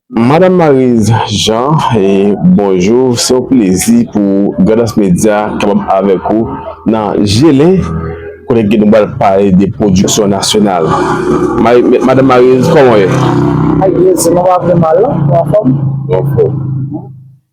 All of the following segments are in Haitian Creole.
Madame Maryse Jean bonjou se yon plezi pou Grandans Media kapab avèk ou nan Gelin kote ke nou pral pale de pwodiksyon nasyonal Madame Maryse kòman ou ye? Maryse nou pa pi mal non, nou anfòm? Nou anfòm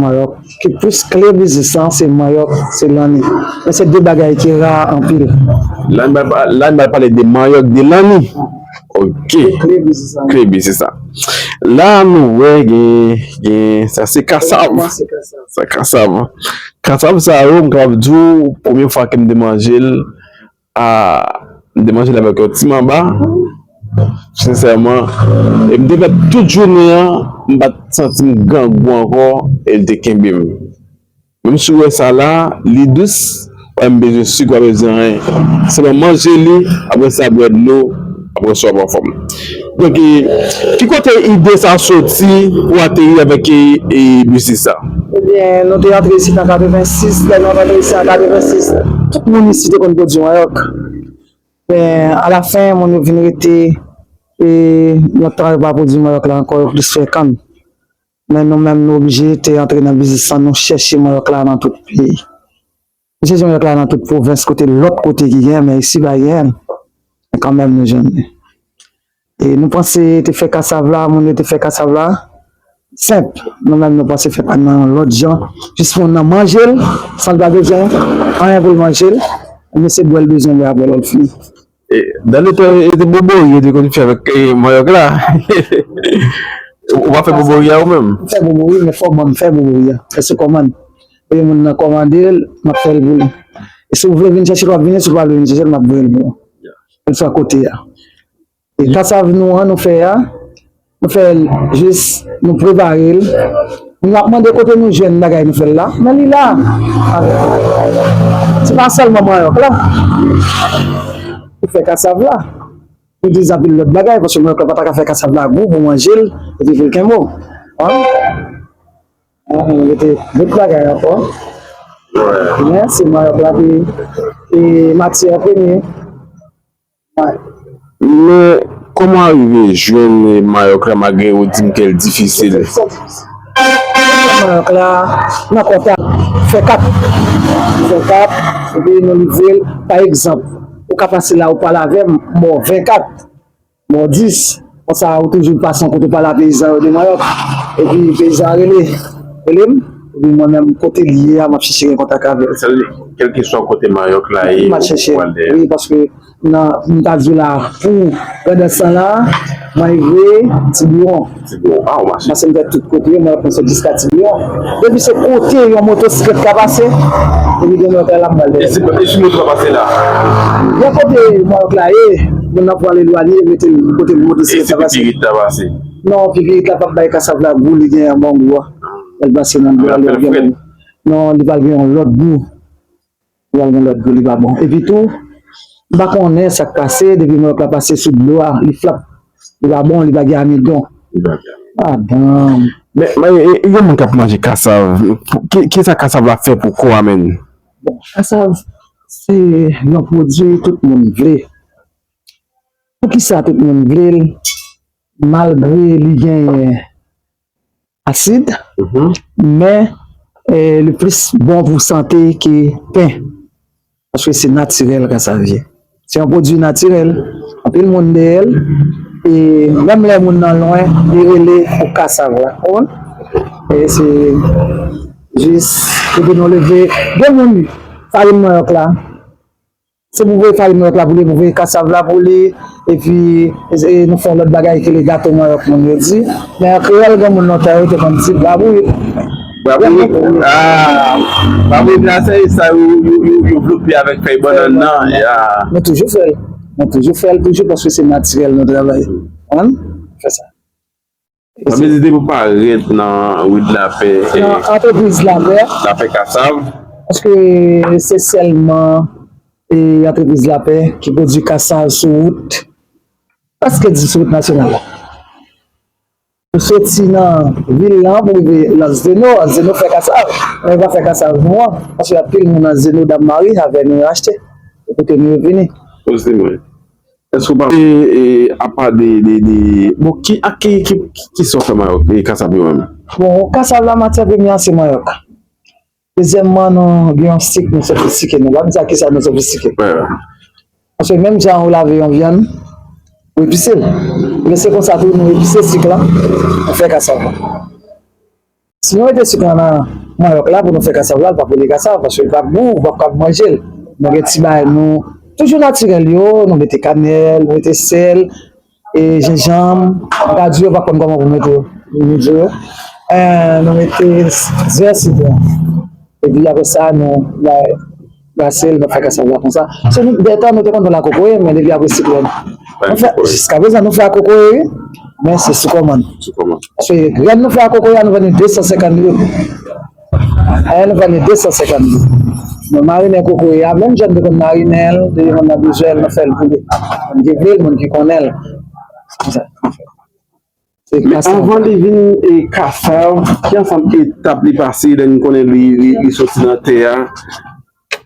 Manyòk ki plis kle biznis lan se manyòk, se lanni. Men se 2 bagay ki ra anpil. La n pral pale de manyòk, de lanni. Ok. Kle biznis lan. La nou wè gen sa se kasav. Sa kasav. Kasav sa yo m kapab di w premye fwa ke m te manje l. Ahh m te manje l avèk yon ti manba sinsèman e m te fè tout jounen an m pat santi m grangou ankò e l te kenbe m menm si w wè sa la li dous wè m bezwen sik m pa bezwen anyen sèlman manje li apresa bwè dlo. Aprè sa wap anfòm. Donk ki kote ide sa soti pou ateri avèk biznis sa? Ebyen nou te antre isit an 86, lè nou ap antre isit an 86 tout moun isit te konn pwodui manyòk. Men alafen moun yo vin rete e yon tan yo pa pwodui manyòk la ankò yo plis fè kann. Men nou menm nou oblije te antre nan biznis lan nou chèche manyòk la nan tout peyi. Misye di yon lèt la nan tout pwovens kote lòt kote ki genyen men isi pa genyenl men kanmenm nou jwenn li e nou panse te fè kasav la moun yo te fè kasav la senp nou menm nou panse fè pann nan yon lòt jan jis pou moun nan manjel sanl pa bezwen anyen poul manjel e misye bwèl bezwen li aprè lèl fini. Dans le temps e te bobori yo te konn fè avèk manyòk la ou pa fè bobori a ou menm? M fè bobori men fò banm fè bobori a fè se kòmand e moun nan kòmandel map fèl pou li e si ou vle vin chèchel wap vini si ou pa vle vin chèchel map voyel pou ou kel swa kote a e kasav nou an nou fè a Nou fè l jis nou prepare l. Nou ap mande kote nou jwenn bagay nou fè l la. Men li la avèk nou. Se pa sèlman manyòk la pou fè kasav la. Pou di anpil lòt bagay. Paske manyòk la pa ta ka fè kasav la gou pou manje l epi pou l kenbo. An? An nou mete lòt bagay ankò. Men se manyòk la ki matyè premye. Men koman arive jwenn mayòk la malgre ou dim kel difisil. Mayòk la nan kontak fè kap fè kap epi nou livrel pa egzanp ou ka pase la ou pale avèm m baw 20 kat m baw 10. Konsa ou toujou pase yon kote pale a peyizan yo de manyòk, epi peyizan an rele, rele m, epi mwen menm kote li ye a m ap chèche gen kontak avè l. Sa vle di, kèlkeswa kote manyòk la ye, ou pral chèche l. Wi, paske nan, m ta di w la, pou pandan san la, mwen rive Tibiwon. Tibiwon, a ou mache? Pase m fè tout kote yo, mwen ap mache jiska Tibiwon. Depi se kote yon motosiklèt ka pase, epi gen manyòk la, l ap ba l dèyè l. E si motosiklèt la pase la? Gen kote manyòk la ye. Moun nan pwal elwanye metel kote moun di siret la pase. E si pipirit la pase? Non pipirit la pap bay kasav la gou li gen an bon gou a. Lèl pase nan dlo a li ap gen bon gou. Non li pral gen yon lòt gou. Li pral gen lòt gou li pa bon. Epi tou m pa konnen sak pase depi manok la pase sou dlo a li flap. Li pa bon li pa gen amidon. Li pa gen amidon. A danm. Men gen moun kap manje kasav. Kisa kasav la fè pou kò a menn? Bon kasav se yon pwodwi tout moun vle, poukisa tout moun vle l malgre li genyen asid men li plis bon pou sante ke pen paske se natirèl kasav ye. Se yon pwodwi natirèl, anpil moun dèyè l, e menm lè moun nan lwen, li rele pou kasav la, ou konprann? E se jis pou ke nou leve, gen moun farin manyòk la, se pou voye farin manyòk la pou li, pou voye kasav la pou li, e pi nou fè yon lòt bagay ki rele gato manyòk moun yo di, men an kreyòl gen moun lontan yo te konn di brabourik. Bravo Bravo Brasa e sa yo yo vlope avèk fèy bannan nan ya. Mwen toujou fèl, mwen toujou fèl toujou paske se natirèl nou travay an fè sa. Mwen vizite pou parèt nan Rue de la Paix. Nan antrepriz lapè. Lapè kasav. Eske se sèlman antrepriz lapè ki pwodui kasav sou wout? Paske di sou wout nasyonal la. Ou soti nan vil la pou rive Anzeno, Anzeno fè kasav, men yo pa fè kasav nou an, paske gen anpil moun Anzeno Dam Mari avè nou yo achte, e kote nou yo vini. Poze mwen, èske ou pa wè e apa de, bon ki ak ki, ki sò fè mayòk, kasav yo menm? Bon, kasav la matyè premyè an se mayòk. Dezyèmman nou gen yon sik nou sofistike nou. Lap di ak kisa nou sofistike. Paske menm jan ou lave yon vyann, ou epise l. Ebyen se konsa tou nou epise sik lan pou fè kasav la. Si nou mete sik lan nan manyòk la pou nou fè kasav la, li pap rele kasav paske li pap gou, ou pap kab manje l. Nou gen ti bagay nou toujou natirèl yo, nou mete kanèl, nou mete sèl E jenjanm, radyo yo pa konn kòman pou mete limije yo. Nou mete dizè sitwon. E pi apre sa nou glase l, nou fè kasav la konsa. Se nou dètan nou te konn fè l a kokoye men depi apre siklòn. Nou fè, jiska prezan nou fè a kokoye wi. Men se sou kòmann. Sou kòmann. Paske grenn nou fè a kokoye a nou vann li 250 goud. Aya nou vann li 250 goud. Nou marinen kokoye a menm jan nou te konn marinen l, depi moun nan bezwen l nou fè l pou li. Moun ki vle l, moun ki konnen l. Men anvan li vin e kasav, ki ansanm etap li pase lè nou konnen li soti nan tè a?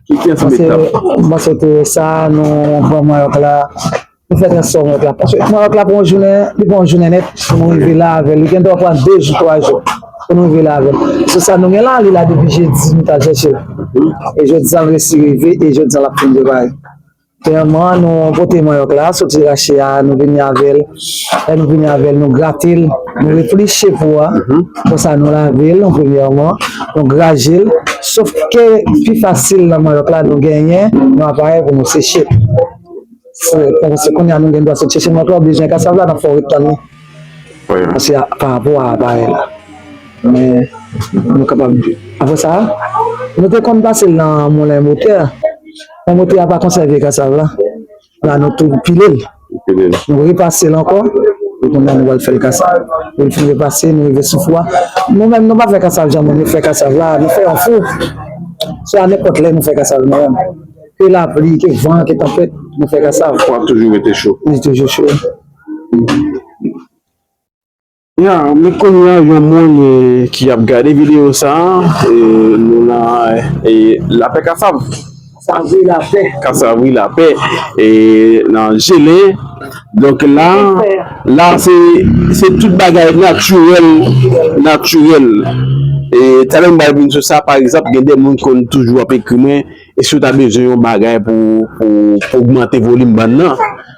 Monse Teresa, nou pran Mayòk la, nou fè trasè Mayòk la. Paske Mayòk la pran yon jounen, li pran yon jounen nèt pou nou rive la avè l. Li gen dwa pran 2 jou, 3 jou pou nou rive la avè l. Sou sa nou gen la, li la depi jedi nou t al chèche l. E jodi a l resi rive e jodi a l ap fin prepare. Premyèman nou pote manyòk la soti rache a nou vini avèl lè nou vini avèl nou gratel nou repliche pou a konsa nou lavel an premyèman nou grajel sof ke pi fasil nan manyòk la nou genyen yon aparèy pou nou seche se kounya nou gen dwa sot chèche manyòk la oubyen kasav la nap fè ou ret tann li se pa rapò a aparèy la men nou kapab apre sa nou te konn pasel nan moulen motè. Bon mote a pa konsève kasav la, la nou tou pile l, nou repase l ankò, e konn nan nou wèl fèl kasav. Lèl fin repase, nou rive sou fou a, nou menm nou pa fè kasav jan moun yo fè kasav la, nou fè yon fou, se a nenpòt lè nou fè kasav nou menm, ke lapli, ke van, ke tanpèt, nou fè kasav. Fou a toujou rete cho. Li toujou cho. Ya men kounya yon moun ki ap gade video sa nou nan lapè kasav kasavri lapè nan jelen donk la la se tout bagay natirèl natirèl e talè m bal vin sou sa pa egzanp gen de moun konn toujou ap ekri mwen esou ta bezwen yon bagay pou pou ogmante volim ban nan.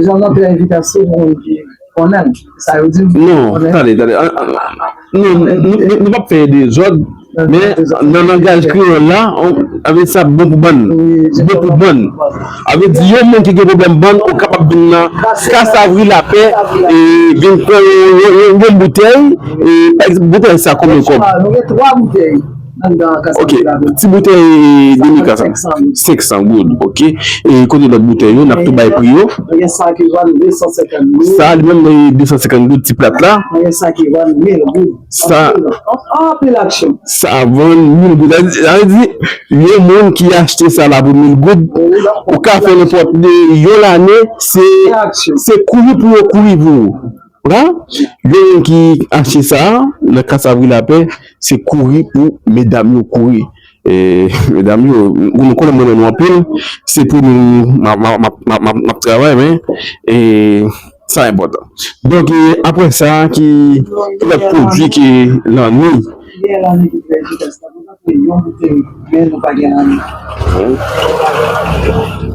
Jean Jean Pierre Evita se moun ki konnen sa yo di. Non, tande, tande. Non, nou pap fè dezòd, men nan langaj kreyòl la, avè sa bon pou bann. Bon pou bann. Avè di yon moun ki gen pwoblèm bann, ou kapab vin nan Kas Avri Lapè, e vin pran yon boutèy, e boutèy sa konbyen kòb? Nou gen 3 boutèy. Ok, ti boutèy Demica sa 500 goud ok, e kote lòt boutèy yo nap tou bay pri yo Sa li menm li 250 goud ti plat la Sa ap vann 1000 goud Sa vle di yon moun ki achte sa la pou 1000 goud ou ka fè nenpòt yon lane se kouri pou yo kouri pou ou La, gen moun ki achte sa a, nan ka sa vre la pè, se kouri pou medam yo kouri. E, medam yo, nou konnen m renmen nou anpil, se pou nou m ap, m ap, m ap travay men, e, sa enpòtan. Donk, e, apre sa, ki lòt pwodui ki lan ni? Gen lan ni ki fè jidans la, nou achte yon boutèy men nou pa gen lan ni. Ayè, ayè, ayè.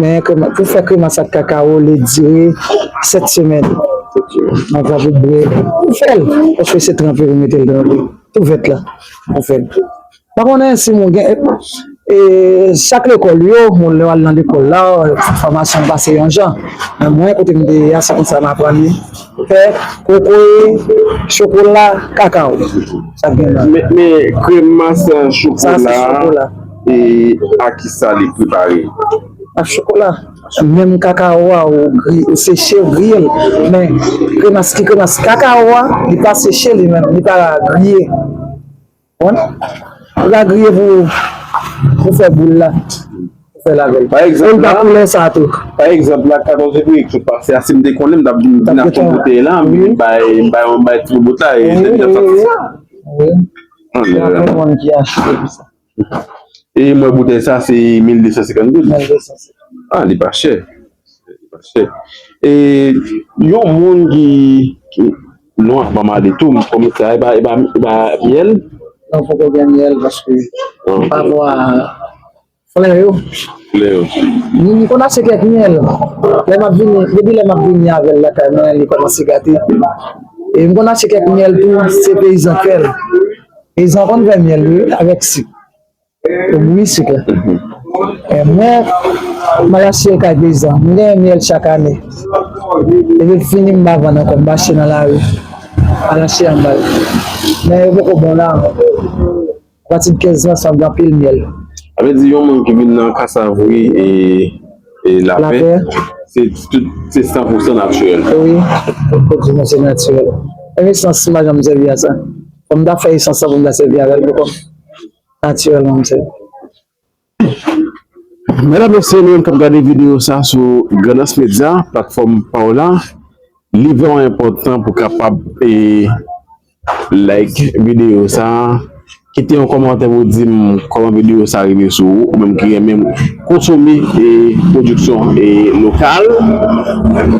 Men pou fè kremas ak kakawo li dire 7 semèn nan vwa bout bre pou fèl paske se tranpe pou metel nan li tou vèt la pou fèl pa konnen si moun gen e sak lekòl yo moun lè wal nan lekòl la fòmasyon pa se yon jan men mwen kote m te ye a se konsa m aprann li fè kokoye chokola kakawo sa k gen la men kremas chokola. E ak ki sa li prepare l? Ak chokola. Menm kakawo a ou seche ou griye l. Men kremas ki kremas kakawo a li pa seche li menm, li pa griye. Ou konprann? Li pa griye pou fè boul la. Pou fè lavel. E li pa koulè sa tou. Pa egzanp la 14 fevriye ki sot pase a si m te konnen m t ap vin ak yon boutèy la m vin bay m bay yon bay tribotay. Wi wi wi. Wi. Gen anpil moun ki achte pou sa. E mwen boutèy sa se 1250 goud? 1250. Ah li pa chè. Li pa chè. E yon moun ki nou an pa mande tou mwen konnen sa e ba e ba myèl? Non poko gen myèl paske mwen pa bwa flè yo. Flè yo. Mwen konn achte kèk myèl. Lè map vini, depi lè map vini avèl lakay mwen li kòmanse gate. E mwen konn achte kèk myèl tou se peyizan fèl. Peyizan konn fè myèl wi avèk sik yo bouyi sik la mwen mal achte l kay peyizan mwen genyen myèl chak ane depi l fini m pa vann ankò m mache nan lari al achte anba l men yo poko bon la ankò apati de 15 ans ap gen anpil myèl. Sa vle di yon moun ki vin nan kasav wi e. E la pè? La pè? Se tout, se san pou san natirèl. E wi, tout kote di nou se natirèl. Menm esans m pa janm sèvi a sa. Fò m ta fè esans sa pou m ta sèvi avè l pou kò m. Natirèlman m sèvi. Medam mesye nou menm k ap gade videyo sa sou Grandans Media, platfòm pa w la, li vrèman enpòtan pou kapab e. Like videyo sa, kite yon kòmantè pou dim kòman videyo sa rive sou ou, ou menm ki renmen konsome pwodiksyon lokal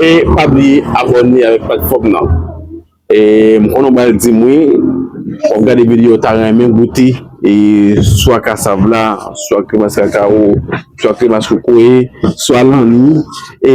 e pa bliye abòne avèk platfòm nan e m konnen w pral dim wi wap gade videyo w ta renmen goute swa kasav la, swa kremas kakawo, swa kremas kokoye, swa lanmi e.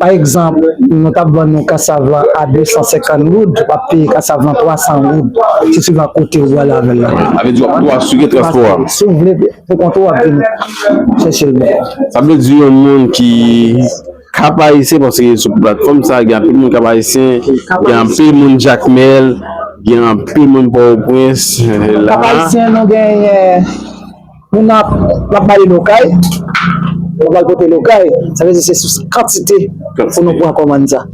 Pa egzanp, nou t ap vann yon kasav lan a 250 goud, w ap peye kasav lan 300 goud, se suivan kote ou prale avè l la. Sa vle di w ap tou asire transpò a? Si w vle pou kont ou, w ap vin chèche l bò. Sa vle di yon moun ki Kap Ayisyen, paske sou platfòm sa a gen anpil moun Kap Ayisyen, gen anpil moun Jakmèl, gen anpil moun Pòtoprens. Kap Ayisyen nou genyen. Moun nan ap mande lokay, nou pral pote lokay, sa vle di se sou kantite pou nou pran kòmann sa.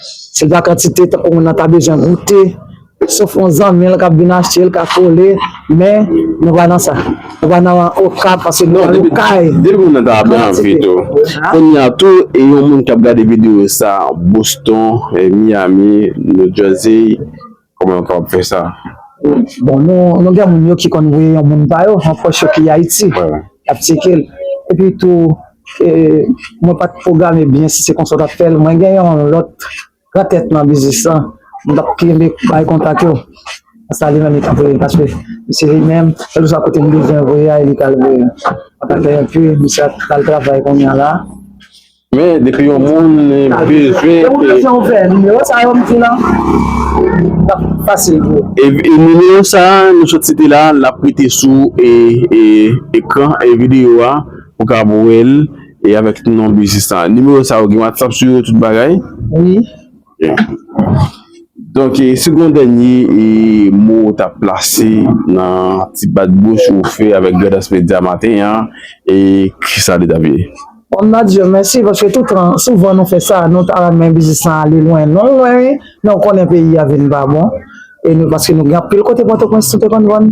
Se pa kantite tankou moun nan ta bezwen goute, sof yon zanmi l k ap vin achte l ka kole, men nou pa nan sa. Nou pa nan Okap paske nou nan lokay. Depi moun nan ta ap gen anvi tou. Kounye a tou, e yon moun k ap gade videyo sa Boston, Miami, New Jersey. Kòman yo kapab fè sa? Bon, nou gen moun yo ki konn voye yon moun pa yo, yon pwòch yo ki Ayiti, y ap tyeke l. Epi tou, mwen pa t pwograme byen si se konsa w t ap fè l. Mwen gen yon lòt gran tèt nan biznis lan, m t ap kenbe bay kontak yo. Konsa li menm li ka voye l paske se li menm, kèlkeswa kote m bezwen voye a, li ka l voye l. Antanke enpi, misye ap pral travay kounye a la. Men depi yon moun bezwen e nimewo sa nou sot site la l ap mete sou ekran videyo a ou ka ap wè l e avèk non biznis la. Nimewo sa yo gen whatsapp sou yo tout bagay? Donk e si gon dènye e mo ou ta plase nan ti bat bouch ou fè avèk Grandans Media maten an e kisa li tap ye? Bon Nadye mèsi paske toutan souvan nou fè sa nou ta renmen biznis lan ale lwen lwen lwen wi men ou konnen peyi a vin pa bon e nou paske nou gen anpil kote pòtoprens nou te konn vann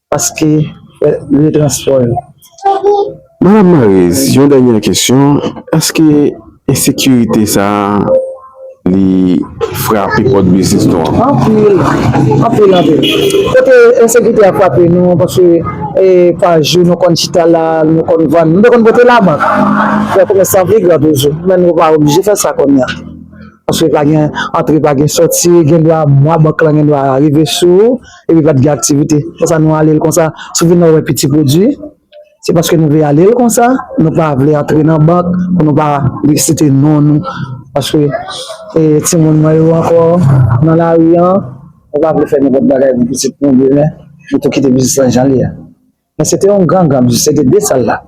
Paske fè retranspo yo. Madam Maryse yon dènyè kesyon eske ensekirite sa li frape pòt biznis nou an? Anpil, anpil anpil kote ensekirite a frape nou paske pa jou nou konn chita la nou konn vann nou te konn pote labank fè komès lan pi gran toujou men nou pa oblije fè sa kounya paske pa gen antre pa gen sòti gendwa mwa bank lan gendwa rive sou ou. Epi pa t gen aktivite. Fò sa nou ale l konsa. Si w vin la w wè piti pwodui, se paske nou vle ale l konsa, nou pa vle antre nan bank pou nou pa site non nou. Paske timoun mwen yo ankò nan lari an, nou pa vle fè nenpòt bagay pou pitit nou demen. Nou tou kite biznis lan jan l ye a. Men se te yon gran gran biznis, se te de sal la.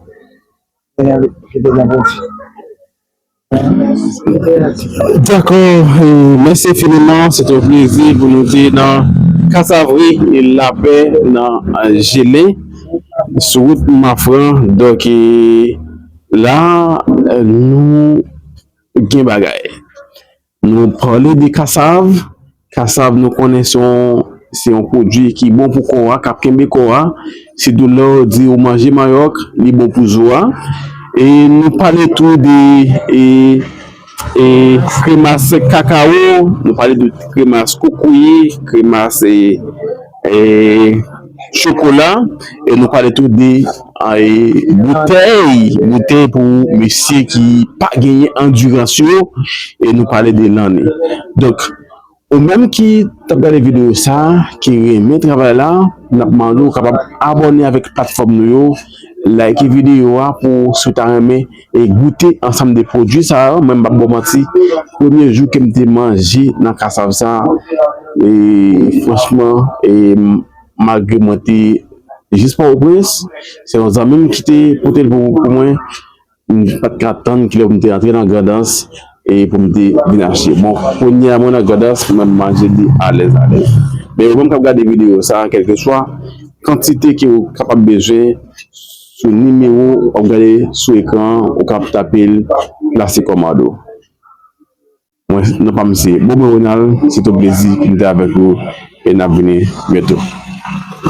Te gen ki te gen pwodui. Dakò, mèsi enfiniman, se te yon plezi pou nou te nan Kasavri lapè nan Jelen sou wout Mafran. Donk la nou gen bagay. Nou pale de kasav, kasav nou konnen se yon se yon pwodui ki bon pou kò a, k ap kenbe kò a, sitou lè w di ou manje manyòk, li bon pou zo a e nou pale tou de e e kremas kakawo, nou pale de kremas kokoye, kremas e. Chokola e nou pale tou de boutèy, boutèy pou mesye ki pa genyen andirans yo e nou pale de lanne. Donk, ou menm ki t ap gade videyo sa, ki renmen travay la, n ap mande ou kapab abòne avèk platfòm nou yo, layike videyo a pou si w ta renmen. e goute ansanm de pwodwi sa yo mwen pap baw manti premye jou kem te manje nan kasav sa e franchman e malgre mwen te jis pòtoprens se yon zanmim ki te potel pou mwen m pat ka tann kilè poum te antre nan grandans e poum te vin achte bon kounya mwen nan grandans mwen manje li alèz alèz men ou menm kap gade videyo sa kèlkeswa kantite ke ou kapab bezwen Sou nimewo w ap gade sou ekran an, ou kab tape l Plastic Commando. Mwen non pa m se Beaubrun Ronald, se te yon plezi pou m te avèk ou e n ap vini byento.